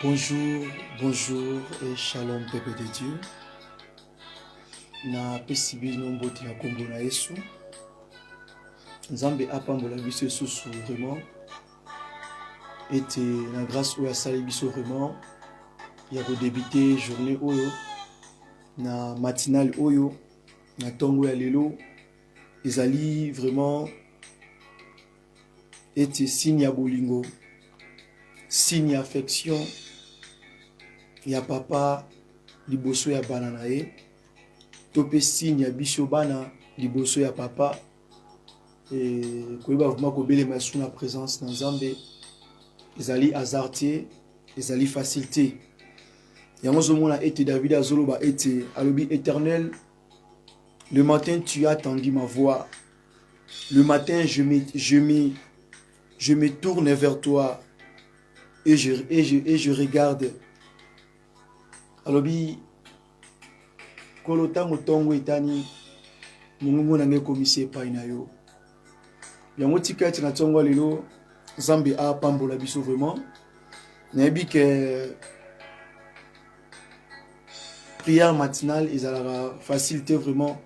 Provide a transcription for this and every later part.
Bonjour, bonjour et shalom peuple de Dieu. Na pesi bino mbote ya kombo na Yesu. Nzambe apambola biso esusu vraiment ete na grâce oyo asali biso vraiment ya kodebute journée oyo na matinale oyo na ntongo ya lelo ezali vraiment ete signe ya bolingo signe ya affection ya papa liboso ya bana na ye to mpe signe ya biso bana liboso ya papa koyeba vraimen kobelema esu na présence na nzambe ezali hasard te ezali facile te yango ozomona ete david azoloba ete alobi éternel le matin tu as tendu ma voix le matin je me, je me, je me tourne vers toi et je, et je, et je regarde alobi Nkolo, ntango ntongo etani, mongongo na ngai ekomisi epai na yo. Yango tika ete na ntongo ya lelo Nzambe apambola biso vraiment. Nayebi ke prière matinale ezalaka facile te vraiment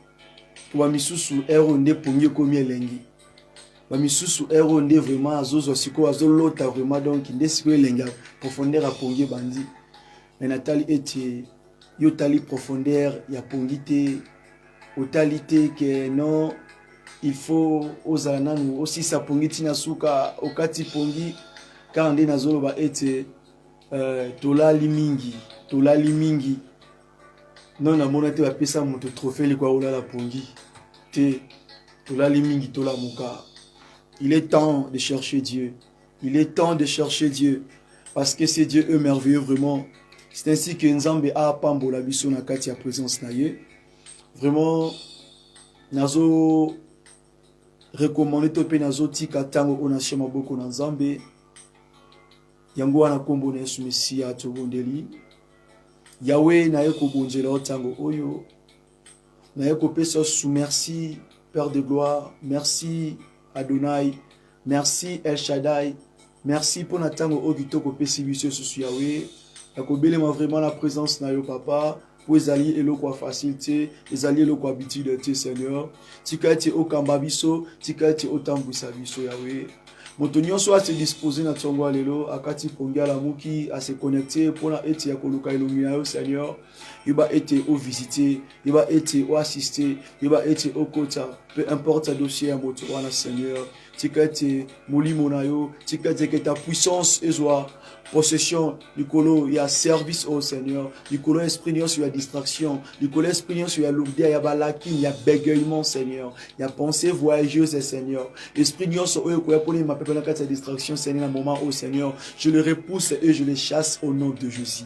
po bamisusu heure oyo nde pongi ekomi elengi bamisusu heure oyo nde vraiment azozwa sikoyo azolota vraiment donc nde sikoyo elengi profondeur ya pongi ebandi me natali ete yo otali profondeur ya pongi te otali te ke non il faut ozala nanu osisa pongi ntina suka okati pongi kaka nde nazoloba ete uh, tolali mingi tolali mingi non namona te bapesa moto trophée likwa olala pongi te tolali mingi tolamuka il est temps de chercher dieu Il est temps de chercher Dieu parce que ce Dieu est merveilleux vraiment. C'est ainsi que Nzambe a pambola biso na kati ya présence na ye. Vraiment nazo recommander to pe nazo tika tango ona chez maboko na Nzambe. Yango wana kombo na Yesu Mesia tobondeli. Yahweh na ye kobonzela yo tango oyo naye kopesa su merci père de gloire merci adonai merci el shadai merci mpo na ntango oyo kitoko opesi biso esusu yawe ya kobelema vraiment na présence na yo papa mpo ezali eloko ya facile te ezali eloko ya bitide te seigneur tika ete okamba biso tika ete otambwisa biso yawe moto nyonso ase dispose na ntongo ya lelo akati pongi alamuki ase connecte mpo na ete ya koluka elongi na yo seigneur yeba ete o visiter yeba ete o assister yeba ete okota peu importe ya dossier ya moto wana seigneur tika ete molimo na yo tika ete ke ta puissance ezwa possession likolo ya service oyo seigneur likolo ya esprit nyonso ya distraction likolo ya esprit nyonso ya lourdeur ya balaki ya bégayement seigneur ya pensée voyageuse seigneur esprit nyonso oyo ekoya mpo nima pepe na kati ya distraction seigneur na moment oyo seigneur je le repousse et je le chasse au nom de jésus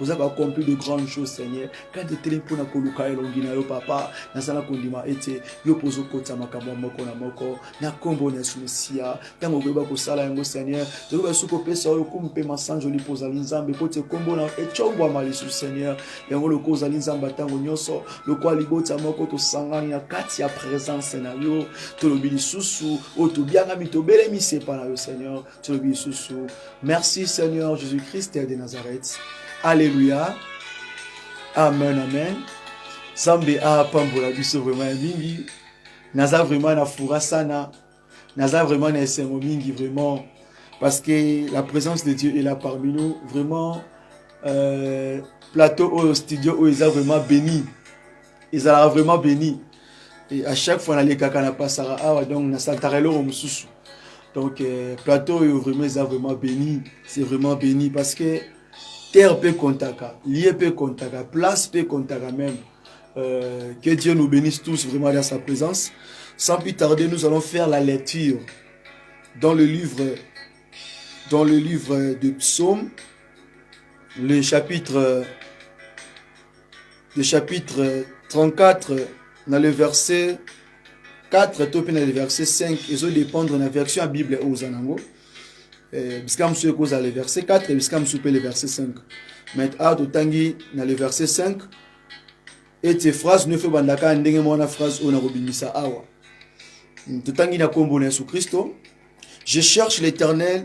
oza baaccompli de grande chose seigneur kati etelemi mpo na koluka elongi na yo papa nazala kondima ete yo mpo ozokotisa makambo ya moko na moko na nkombo na yesu mesiya ntango okoyeba kosala yango seigneur tokoki basusu kopesa yo lokumu mpe masanjoli mpo ozali nzambe mpo te nkombo na ecombwama lisusu seigneur yango lokola ozali nzambe ya ntango nyonso lokola libota moko tosangani na kati ya presence na yo tolobi lisusu oyo tobiangami tobelemi sepa na yo seigneur tolobi lisusu merci seigneur jésus christ de nazareth alleluya amen amen nzambe apambola biso vraiment ya mingi naza vraiment na fura sana naza vraiment na esengo mingi vraiment parce que la présence de dieu est là parmi nous vraiment euh, plateau oyo studio oyo eza vraiment béni ezalaka vraiment béni et à chaque fois nalekaka na pasaka awa donc nasantaka eloko mosusu donc euh, plateau oyo vraiment eza vraiment béni c'est vraiment béni parce que terre mpe kontaka lie mpe kontaka place mpe kontaka même euh, que dieu nous bénisse tous vraiment dans sa présence sans plus tarder nous allons faire la lecture dans le livre dans le livre de psaume le chapitre le chapitre 34 na le verset 4 to mpe na le verset 5 ezo dépendre na version ya bible oyo oza nango eh, bisika mosusu ekozala le verset 4 bisika mosusu mpe le verset 5 mais awa totangi na le verset 5 ete phrase nyonso ebandaka ndenge moko na phrase oyo nakobimisa awa totangi na nkombo na yesu kristo je cherche l'éternel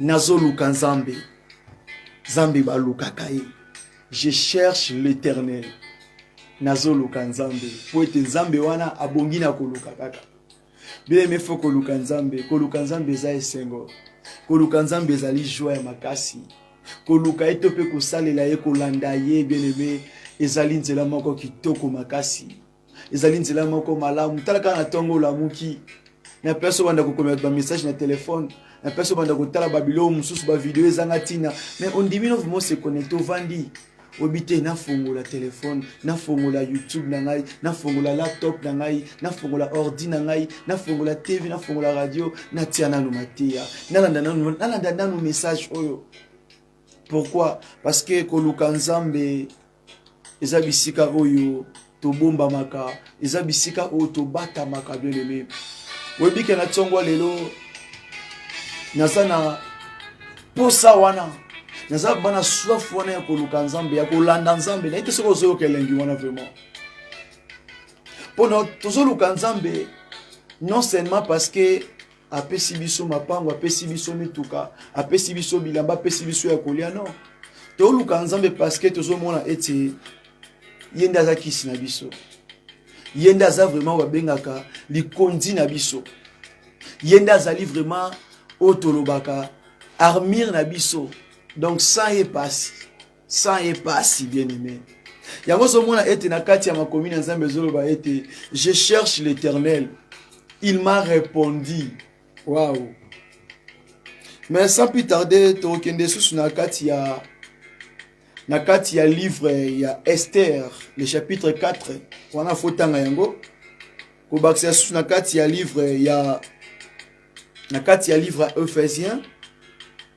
nazoluka nzambe nzambe balukaka ye je cherche l'éternel nazoluka nzambe mpo ete nzambe wana abongi na koluka kaka bileme fo koluka nzambe koluka nzambe eza esengo koluka nzambe ezali joi ya makasi koluka ye to mpe kosalela ye kolanda ye bien aime ezali nzela moko kitoko makasi ezali nzela moko malamu tala kaka na ntongo olamuki na place obanda kokomela bamessage na telefone na place obanda kotala babiloko mosusu bavideo ezanga ntina mais ondimi no vraimen se connecte ovandi oyebi te nafongola telefone nafongola youtube na ngai nafongola laptop na ngai nafongola ordi na ngai nafongola tv nafongola radio natia nanu mateya nalanda nanu nalanda nanu message oyo pourquoi parce que koluka nzambe eza bisika oyo tobombamaka eza bisika oyo tobatamaka bieleme oyebike na ntongo lelo naza na posa wana naza bana soif wana ya koluka nzambe ya kolanda nzambe naye te soki ozoyoka elengi wana vraiment mpo tozoluka nzambe non seulement parce que apesi biso mapango apesi biso mituka apesi biso bilamba apesi biso ya kolia no toluka nzambe parceke tozomona ete ye nde aza kisi na biso ye nde aza vraiment oyo babengaka likonzi na biso ye nde azali vraiment oyo tolobaka armire na biso donc sans ye pasi sans ye pasi bien aimé yango ozomona ete na kati ya makomi na nzambe ezoloba ete je cherche l'éternel il m'a répondu waouh mais sans plus tarder tokokende lisusu na kati ya na kati ya livre ya ester le chapitre 4 wana fotanga yango kobakisa lisusu na kati ya livre ya na kati ya livre ya ephésien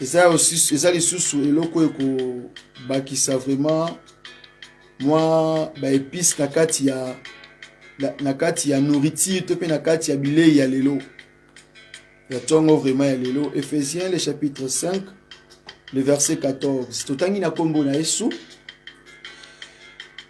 eza, eza lisusu eloko ekobakisa vraiment mwa baepice na kati ya na kati ya nourriture to mpe na kati ya bilei ya lelo ya ntongo vraiment ya lelo ephésiens le chapitre 5 le verset 14 totangi na nkombo na yesu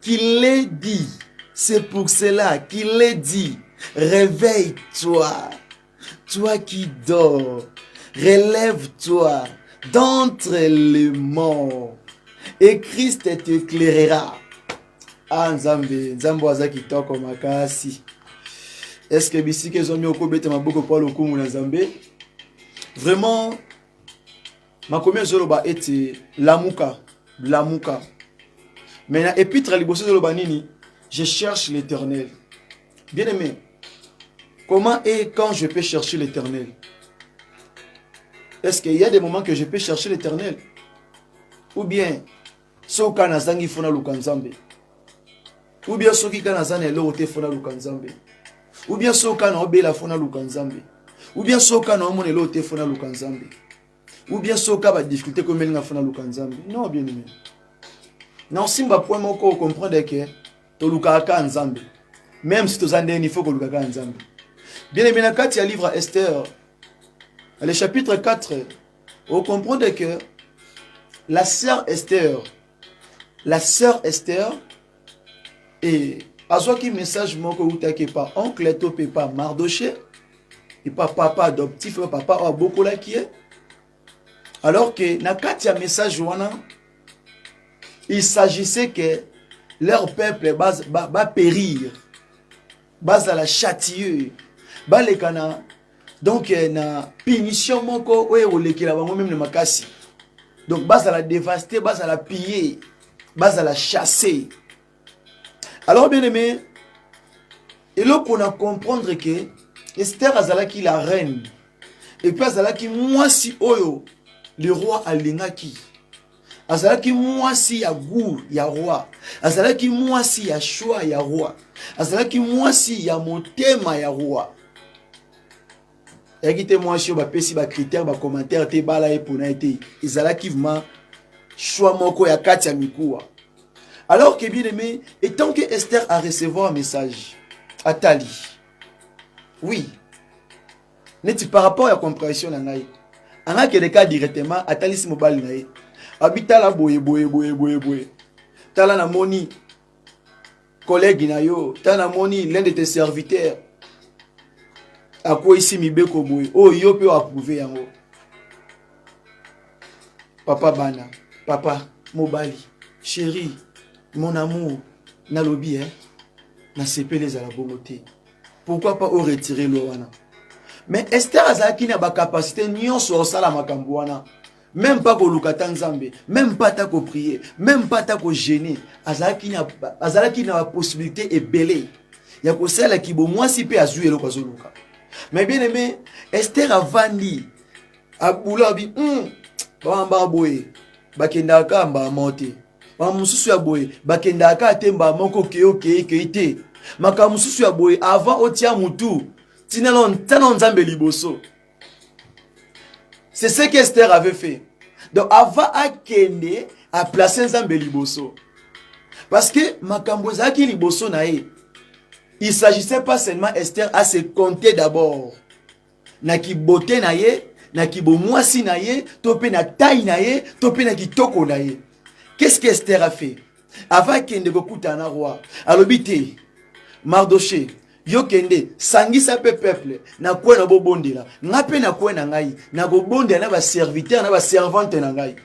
Qu'il l'ait dit, c'est pour cela qu'il l'ait dit. Réveille-toi, toi qui dors, relève-toi d'entre les morts, et Christ t'éclairera. Ah, Nzambe, Nzambe aza kitoko makasi. Est-ce que bisika ezwami okobeta maboko mpo lokumu na Nzambe? Vraiment, makomi ezoloba ete lamuka lamuka mais na epitre ya liboso ezoloba nini je cherche l'éternel bien aimé comment et quand je peux chercher l'éternel est-ce qu'il y a des moments que je peux chercher l'éternel ou bien soki kaka nazangi fo naluka nzambe ubia soki kaka naza na eloko te fo naluka nzambe ubia soki kaka naobela fo naluka nzambe ubia soki kaka naomona eloko te fo naluka nzambe ubia soki kaka badifikulte komeli nga fo naluka nzambe non bien aimé na osimba point moko okomprendre ke tolukaka kaka nzambe meme si toza ndeni fo koluka kaka nzambe bien aimé na kati ya livre ya esther le chapitre 4 o comprendre que la sœur Esther la sœur Esther et azwaki message moko eutaki epa oncle to mpe epa mardoche epa papa adoptif oyo papa oyo abokolaki ye alors que na kati ya message wana il s'agissait que leur peuple bapérir ba, ba bazala châtieux baleka na donc eh, na punition moko oyo ekolekela bango meme na makasi donc bazala devaste bazala pille bazala chasse alors bien aimé eloko na comprendre ke ester azalaki la reine epuis azalaki mwasi oyo le roi alingaki azalaki mwasi ya gour ya roi azalaki mwasi ya shwa ya roi azalaki mwasi ya motema ya roi eyaki te mwasi oyo bapesi bacritère bacommentaire te bala ye mpona ye te ezalaki vraimen shwa moko ya kati ya mikuwa alors que bien aimé etant que esther a recevoir message atali oui neti par rapport ya comprehension na ngai angakende ka directement atalisi mobali na ye abi tala boye boye boye boye boye tala namoni kolege na yo tala namoni l'un de tes serviteurs akweyisi mibeko boye oyo oh, yo mpe oapprouve yango papa bana papa mobali chéri mon amour nalobi eh? nasepeli ezala bongo te pourquoi pas o retirer loi wana mais Esther azalaki na ba capacité nyonso osala makambo wana même pas koluka ata nzambe même pas ata koprier même pas ata kogene azalaki na azalaki na bapossibilité ebele ya kosala kibomwasi mpe azwi eloko azoluka mais bien aimé ester avandi abula abi mm, bawamba boye bakendaka kaka mbala moko te makambo mosusu ya boye bakendaka kaka te mbala moko okei okei okei te makambo mosusu ya boye avant otia motu tina ntana o nzambe liboso c'est ce que ester avait fait donc avant akende aplace nzambe liboso parce que makambo ezalaki liboso na ye il s'agissait pas seulement ester à se compter d'abord na kibote na ye na kibomwasi na ye to mpe na tai na ye to mpe na kitoko na ye qu'est ce que ester a fait avant akende kokutana na roi alobi te mardoche yo kende sangisa mpe peuple na kwe na bobondela ngai mpe na kwe na ngai nakobondela na baserviteur na baservante na ngai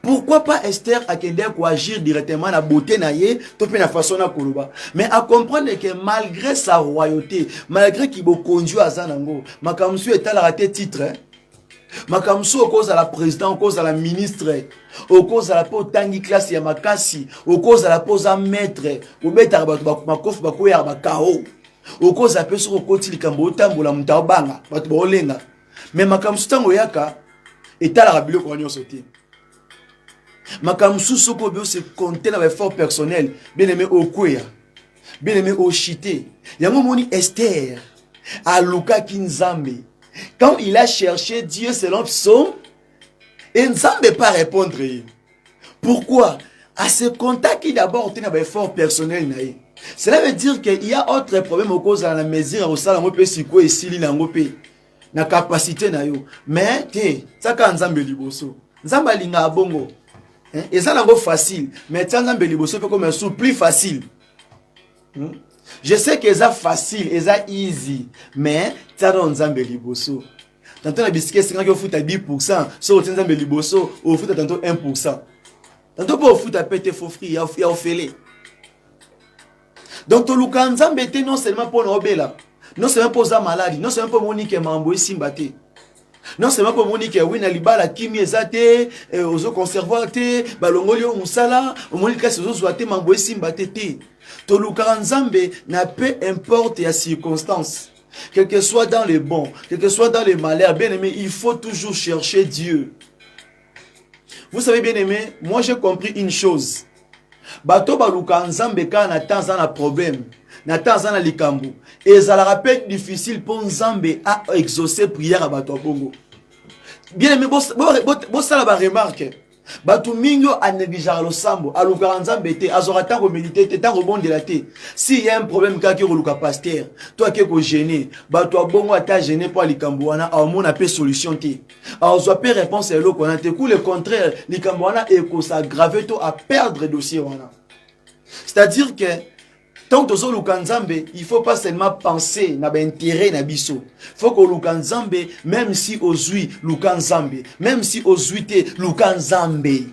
pourquoi pas Esther akendeki koagir directement na beauté na ye to mpe na façon na koloba mais acomprendre ke malgré sa royauté malgré kibokonzi oyo aza nango makambo mosusu etalaka te titre eh? makambo mosusu okozala président okozala ministre okozala mpe otangi klase ya makasi okozala mpe oza maître obetaka bato makofi bakweyaka bakao okozala mpe soki okoti likambo otambola moto aobanga bato baolenga me makambo mosusu ntango oyaka etalaka biloko wana nyonso te makambo mosusu soki obi ose compte na baeffort personnel bien aime okweya bien aime ochite yango omoni ester alukaki nzambe quand il a cherché dieu selon psaume e nzambe pa répondre ye pourquoi à se contacter d'abord te na ba effort personnel na ye cela veut dire que il y a autre problème okozala na mesure ya kosala yango mpe sikoyo esili na yango mpe na capacité na yo mais te tiaka nzambe liboso nzambe alingaka bongo eh, eza nango facile mais tia nzambe liboso mpe koma su plus facile hmm? je sais que eza facile eza easy mais tiaka nzambe liboso tanto na bisika esengaki ofuta 10 pourcent soki otie nzambe liboso ofuta tanto 1 pourcent tanto mpe ofuta mpe te fo fri ya ofele donc toluka nzambe te non seulement mpo na obela non seulement mpo oza maladi non seulement mpo omoni ke mambo esimba te non seulement mpo omoni ke wi na libala kimi eza te eh, ozo conservoir te balongoli yo mosala omoni kasi ozozwa te mambo esimba te te tolukaka nzambe na peu importe ya circonstance Que que soit dans les bons, que que soit dans les malheurs, bien aimé, il faut toujours chercher Dieu. Vous savez, bien aimé, moi j'ai compris une chose. Bato baluka nzambe kaka na temps aza na problème na temps aza na likambo ezalaka mpe difficile mpo nzambe a exauce prière ya bato ya bongo bien aimé bosala baremarke bato mingi oyo anegligeaka losambo alukaka nzambe te azwaka ntango medite te ntango obondela te si ya un problème kaka ke koluka paster to ake kogene bato abongo ata gene mpo ya likambo wana aomona mpe solution te azwa mpe réponse ya eloko wana te ku le contraire likambo wana ekosagrave to aperdre dossier wana c'est-à-dire que ntango tozoluka nzambe il faut pas seulement penser na baintérêt na biso faut koluka nzambe même si ozwi luka nzambe même si ozwi te luka nzambe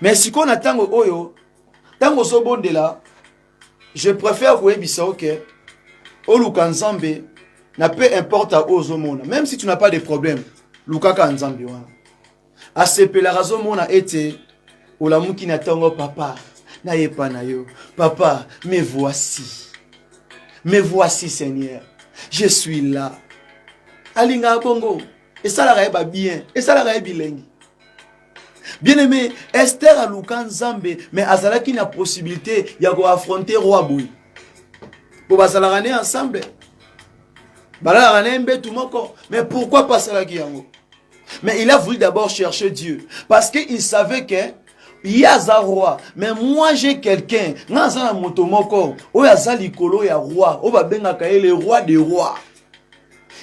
me sikoyo na ntango oyo ntango ozobondela je préfère koyebisa oke oluka nzambe na peu importe oyo ozomona même si tu n'as pas de problème lukaka nzambe wana asepelaka azomona ete olamuki na ntongo papa nayepa na yo papa me voici me voici seigneur je suis là alingaka bongo esalaka ye babien esalaka ye bilengi bien aimé ester aluka nzambe me azalaki na possibilité ya koaffronte roi boye mpo bazalaka ne ensemble balalaka na ye mbetu moko mais pourquoi pas asalaki yango mais il a voulu d'abord chercher dieu parce que il savait que ye aza roi mais moi j'ai quelqu'un nga aza na moto moko oyo aza likolo ya roi oyo babengaka ye le roi de roi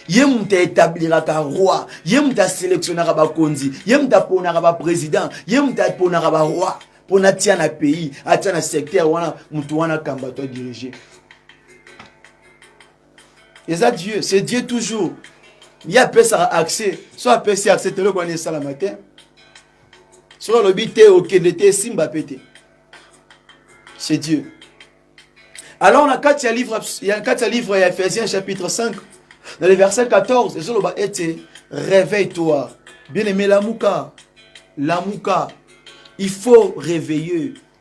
ye moto aetabliraka roi ye moto aselektionaka bakonzi ye moto aponaka baprésident ye moto aponaka baroi mpo natia na pays atia na secteur wana moto wana kamba to dirige eza dieu c'est dieu toujours ye apesaka accès so apesi accès teloko wana esalama te soki alobi te okende te esimba mpe te c'est dieu alors na kati ya livre ya kati ya livre ya ephésiens chapitre 5 na le verset 14 ezoloba ete réveille toi bien aimé lamuka lamuka il faut réveiller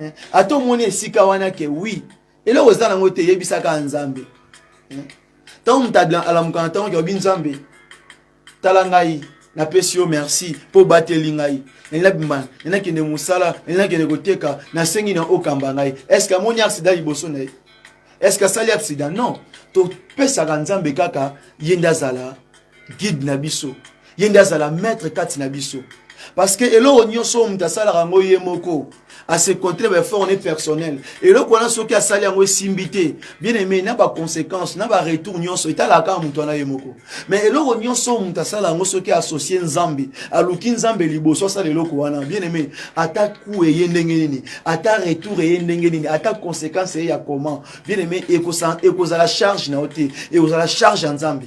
eh, ata omoni esika wana ke wi eloko eza nango te yebisaka nzambe eh, ntango moto alamuka na ntango keobi nzambe tala ngai napesi yo merci mpo obateli ngai nabima nakende mosala nakende koteka nasengi na okamba ngai estce amoni aksida liboso na ye estce asali aksida non topesaka nzambe kaka ye nde azala guide na biso ye nde azala maître kati na biso parce que eloko nyonso oyo moto asalaka yango ye moko asekontre baeffort ne personnel eloko wana soki asali yango esimbi te bien aimé na baconséquence na baretour nyonso etalaka kaka moto wana ye moko mais eloko nyonso oyo moto asala yango soki associe nzambe aluki nzambe liboso asala eloko wana bien aimé ata ku eye ndenge nini ata retour eye ndenge nini ata conséquence eye ya comment bien aimé ekozala charge na yo te ekozala charge ya nzambe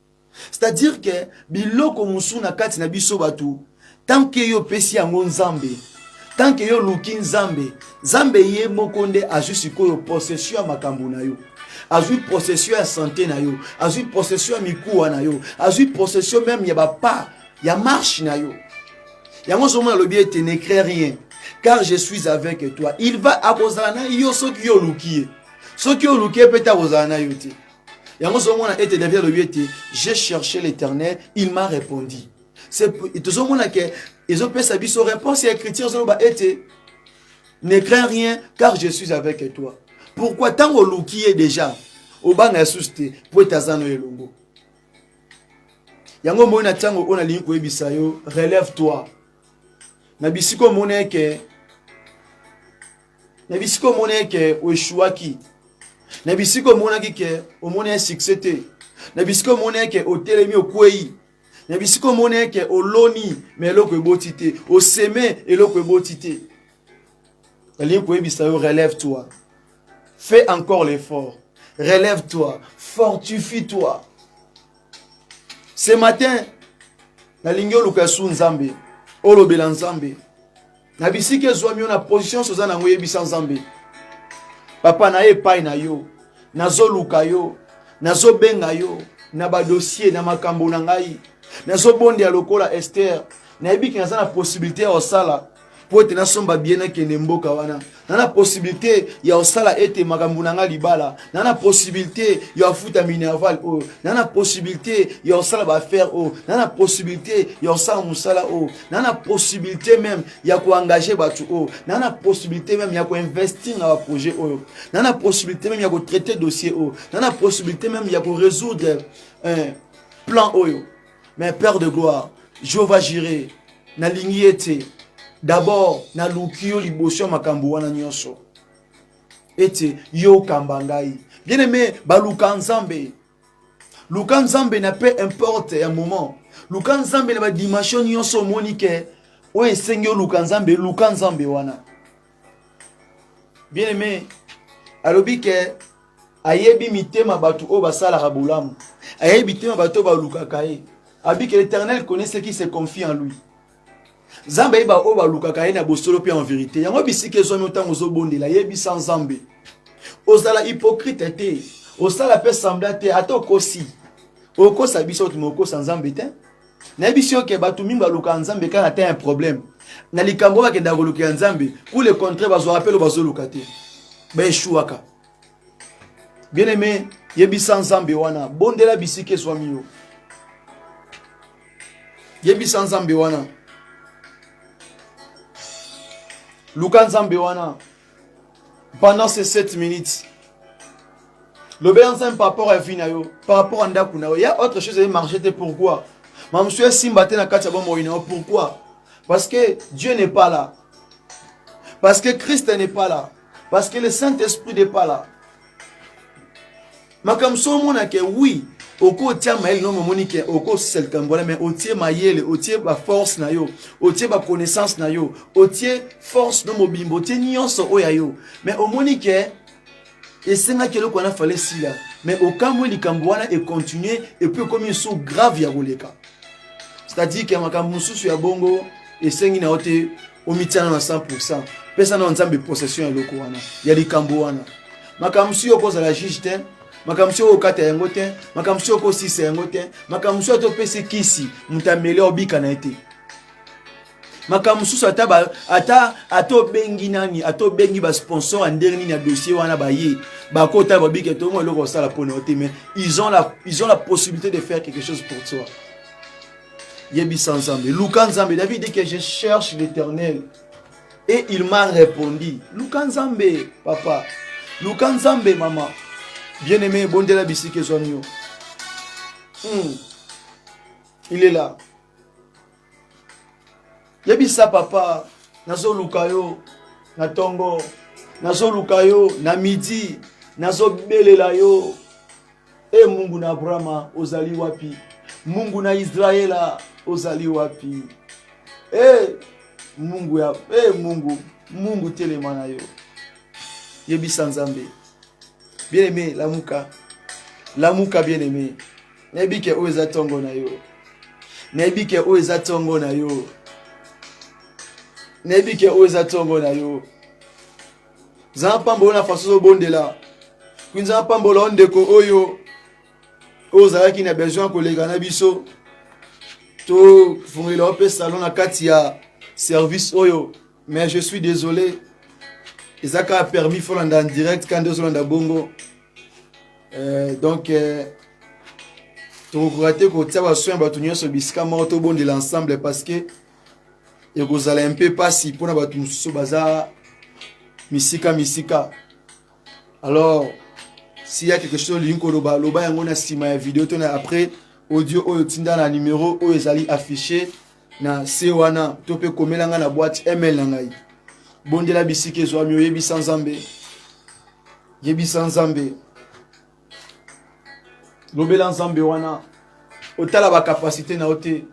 c'est-à-dire que biloko mosusu na kati na biso bato tanke yo opesi yango nzambe tanke yo oluki nzambe nzambe ye moko nde azwi sikoyo possession ya makambo na yo azwi possession ya sante na yo azwi possession ya mikuwa na yo azwi possession meme ya bapa ya marshe na yo yango ozomona alobi ete ne crée rien car je suis avec toi il va akozala na yo soki yo oluki ye soki oluki ye mpe te akozala na yo te yango ozomona ete david alobi ete je cherche l'éternel il m'a répondu tozomona ke ezopesa biso réponse ya écriture ezoloba ete ne crains rien car je suis avec toi pourquoi ntango oluki ye déjà obanga yesusu te mpo ete aza no elongo yango omoni na ntango oyo nalingi koyebisa yo relève toi na bisika omoni eke na bisika omoni eke oeshuaki na bisika omonaki ke omoni ya succès te na bisika omoni eke otelemi okwei na bisika omoni eke oloni ma eloko eboti te oseme eloko eboti te nalingi koyebisa yo relève toi fais encore l'effort relève toi fortifie toi ce matin nalingi oluka su nzambe olobela nzambe na bisika ezwami yo na position nyonso oza na yango yebisa nzambe papa na ye epai na yo nazoluka yo nazobenga yo na badosie na makambo na ngai nazobondela lokola ester nayebiki naza na posibilité ya kosala mpo ete nasomba bie nakende mboka wana na na possibilité ya kosala ete makambo na ngai libala na na possibilité ya kofuta minerval oyo oh. na na possibilité ya kosala baaffaire oyo oh. na na possibilité ya kosala mosala oyo oh. na na possibilité meme ya koengage bato oyo na na possibilité meme ya koinvestir na baprojet oyo na na possibilité meme ya kotraite dossier oyo na na possibilité meme ya korésoudre eh, plan oyo mais père de gloire je va jure nalingi ye te d'abord naluki yo liboso ya makambo wana nyonso ete yo okamba ngai bien aime baluka nzambe luka nzambe na peu importe ya moment luka nzambe na badimension nyonso omoni ke oyo esengi oluka nzambe luka nzambe wana bien aime alobi ke ayebi mitema bato oyo basalaka bolamu ayebi mitema bato oyo balukaka ye abi ke l'éternel connaît ce qui se confie en lui nzambe ayeba oyo balukaka ye na bosolo mpe en verité yango bisika ezwami ntango ozobondela yebisa nzambe ozala hypocrite te osala mpe sembla te ata okosi okosa biso tuma okosa nzambe te nayebisi yo ke bato mingi balukaka nzambe kaka na temps ya problème na likambo oyo bakendaka kolukela nzambe pour le contraire bazwaka mpe lo bazoluka te baeshuwaka bien aimé yebisa nzambe wana bondela bisika ezwami yo yebisa nzambe wana luka nzambe wana pendant ces 7 minutes lobela nzambe par rapport ya vie na yo par rapport ya ndako na yo ya autre chose eye marché te pourquoi ma mosusu esimba te na kati ya bomoi na yo pourquoi parce que dieu n'est pas là parce que christ n'est pas là parce que le saint esprit n'est pas là makambo so omona ke wi okotia mayele no momoni ke okosisa likambo wana mai otie mayele otie baforce na yo otie baconnaissance na yo otie force no mobimbo otie nyonso oyo ya yo mai omoni ke esengaki eloko wana fale sila mai okamwe likambo wana econtinue epuis ekomi lisusu grave ya koleka c'est-à-dire ke makambo mosusu ya bongo esengi na yo te omityana na 100 pesa na nzambe possession ya eloko wana ya likambo wana makambo mosusu yo okozala juge te makambo mosusu yo okokata yango te makambo mosusu yo okosisa yango te makambo mosusu ata opesi kisi moto ameli obika na ye te makambo mosusu ata ba, ata ata obengi nani ata obengi basponsor ya ndenge nini ya dossier wana baye bakota babike tomo eloko osala mpo na yo te mais ils ont la, ils ont la possibilité de faire quelque chose pour toi yebisa nzambe luka nzambe david dit que je cherche l'éternel et il m'a répondu luka nzambe papa luka nzambe mama bien aimé ebondela bisika ezwami yo hmm. il est là yebisa papa nazoluka yo na ntongo nazoluka yo na midi nazobelela yo E Mungu na Abrahama, ozali wapi? Mungu na Israela, ozali wapi? E Mungu ya e Mungu, Mungu telema na yo, yebisa Nzambe. Bien aimé, lamuka, lamuka bien aimé. Nayebi ke oyo eza tongo na yo, nayebi ke oyo eza tongo na yo, nayebi ke oyo eza tongo na yo. nzambe apambola na faso ozobondela mpe nzambe apambola o ndeko oyo oyo ozalaki na besoin ya koleka na biso tofungela yo mpe salon na kati ya service oyo mais je suis désolé eza kaka permis folanda en direct kandi ozolanda bongo euh, donc euh, tokokoka te kotia basoin ya bato nyonso bisika moko tobondela ensemble parce que ekozala un peu mpasi mpona bato mosusu baza misika misika alors s'il y a quelque chose olingi koloba loba yango na nsima ya video to na après audio oyo tinda na numero oyo ezali affiche na se wana to mpe komela ngai na boîte email na ngai bondela bisika ezwami oyebisa nzambe yebisa nzambe lobela nzambe wana otala bakapasite na yo te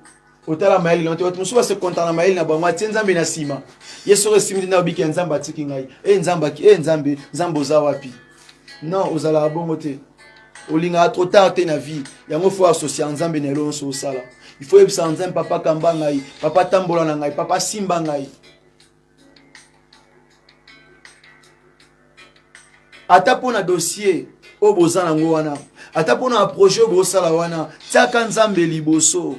otala mayele na yo te bato mosusu basekonta na mayele na bango atie nzambe na nsima ye soko esimi te na obiki ya nzambe atiki ngai e nzambe aki e nzambe nzambe oza wapi non ozalaka bongo te olingaka trop tard te na vie yango fo associa nzambe na elo nyonso osala il faut yebisa nzambe papa kamba ngai papa tambola na ngai papa simba ngai ata mpo na dossier oyo boza nango wana ata mpo na projet oyo bosala wana tiaka nzambe liboso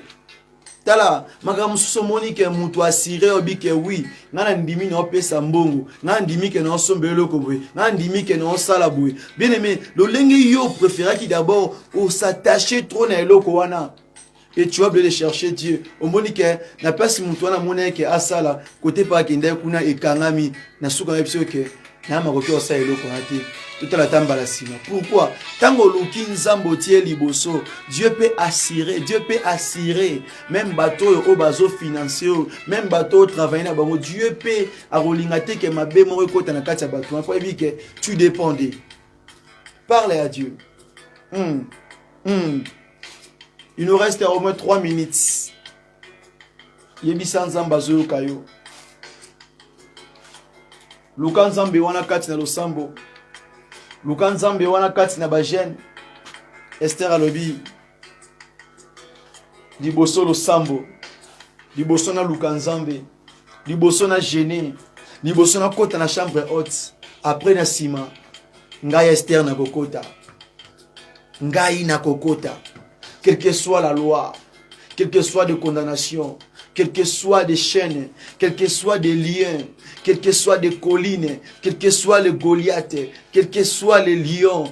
tala makambo mosusu omoni ke moto asire obi ke wi ngai nandimi na opesa mbongo ngai nandimi ke na osomba eloko boye ngai nandimi ke na osala boye bien aime lolenge yo preferaki d'abord osatache trop na eloko wana et tu as oublié de chercher Dieu. Omoni ke na place mutu wana mona ke asala kote pa akenda kuna ekangami na suka na biso ke na makoki osala eloko na te. Totala ta mbala sima. Pourquoi? Tango luki nzambe otie liboso, Dieu peut assurer, Dieu peut assurer même bato oyo oyo bazo financer oyo, même bato oyo travailler na bango, Dieu peut akolinga te ke mabe moko ekota na kati ya bato. Mpo ayebi ke tu dépends de Parle à Dieu. Mmh. Mmh. Il nous reste au moins 3 minutes. yebisa nzambe azoyoka yo luka nzambe wana kati na losambo luka nzambe wana kati na bagene ester alobi liboso losambo liboso naluka nzambe liboso na gene liboso nakota na chambre haute après na nsima ngai ester nakokota ngai nakokota quelque soit la loi quelque soit de condamnation quelque soit des chaînes quelque soit des liens quelque soit des collines quelque soit le goliath quelque soit le lion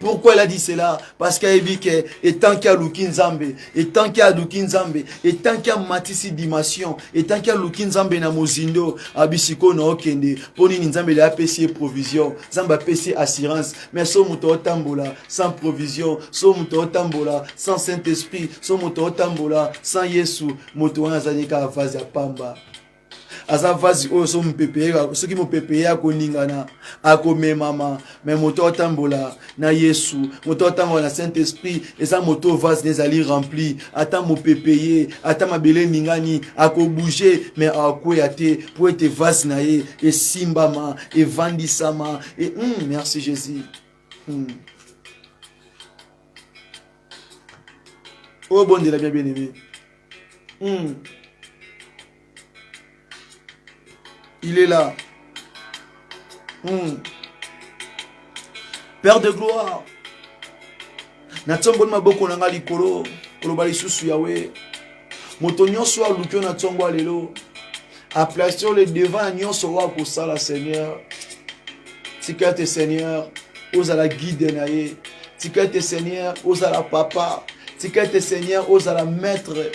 Pourquoi elle a dit cela Parce qu'elle a dit que et tant qu'il y a Luki Nzambe, et tant qu'il y a Luki Nzambe, et tant qu'il y a Matisi Dimension, et tant qu'il y a Luki Nzambe na Mozindo, Abisiko na Okende, Poni Nzambe la PC provision, Zamba PC assurance, mais son moto tambola sans provision, son moto tambola sans Saint-Esprit, son moto tambola sans Yesu, moto wana zanika vaza pamba. aza vasi oyo so mopepe soki mopepe ye akoningana akomemama me moto atambola na yesu moto atambola na saint esprit eza moto oyo vase ezali rempli ata mopepe ye ata mabele eningani akobouge me akweya te mpo ete vase na ye esimbama evandisama e, mm, merci jésus mm. oyo bondela bien bien aimé mm. il est là mm. père de gloire natomboli maboko na ngai likolo koloba lisusu yawe moto nyonso oyo aluki yo na ntongo ya lelo aplace yo le devant ya nyonso oyo akosala seigneur tika ete seigneur ozala guide na ye tika ete seigneur ozala papa tika ete seigneur ozala maître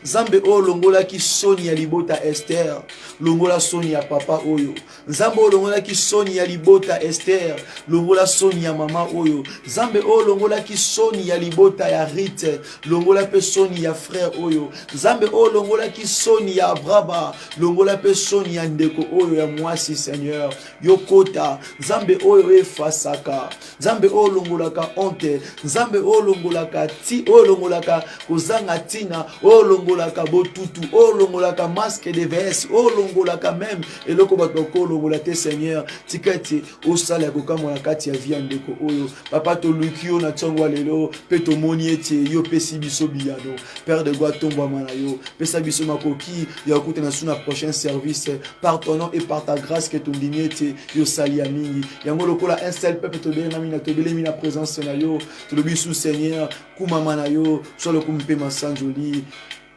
nzambe oyo olongolaki soni ya libota ester longola soni ya papa oyo nzambe olongolaki soni ya libota ester longola soni ya mama oyo nzambe oyo olongolaki soni ya libota ya rite longola mpe soni ya frere oyo nzambe oyo olongolaki soni ya abraba longola mpe soni ya ndeko oyo ya mwasi seigneur yokota nzambe oyo efasaka nzambe oyo olongolaka honte nzambe oyo olongolaka ti oyo olongolaka kozanga ntina oyo olongolaka botutu oyo olongolaka masque de vs oyo olongolaka meme eloko bato bakoki olongola te seigneur tika ete osala ya kokamwa na kati ya vi ya ndeko oyo papa toluki yo na ntongo ya lelo mpe tomoni ete yo opesi biso biyano père de goi tombwama na yo pesa biso makoki ya kokutana su na prochain service par ton nom et par ta grâce ke tondimi ete tosali ya mingi yango lokola un seul peuple tobelengami na tobelemi na présence na yo tolobi su seigneur kumama na yo so lokumu mpe masanjoli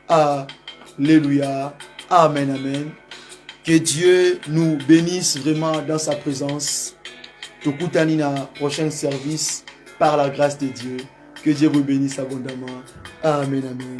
alleluya amen amen que dieu nous bénisse vraiment dans sa présence tokutani na prochain service par la grâce de dieu que dieu vous bénisse abondamment amen amen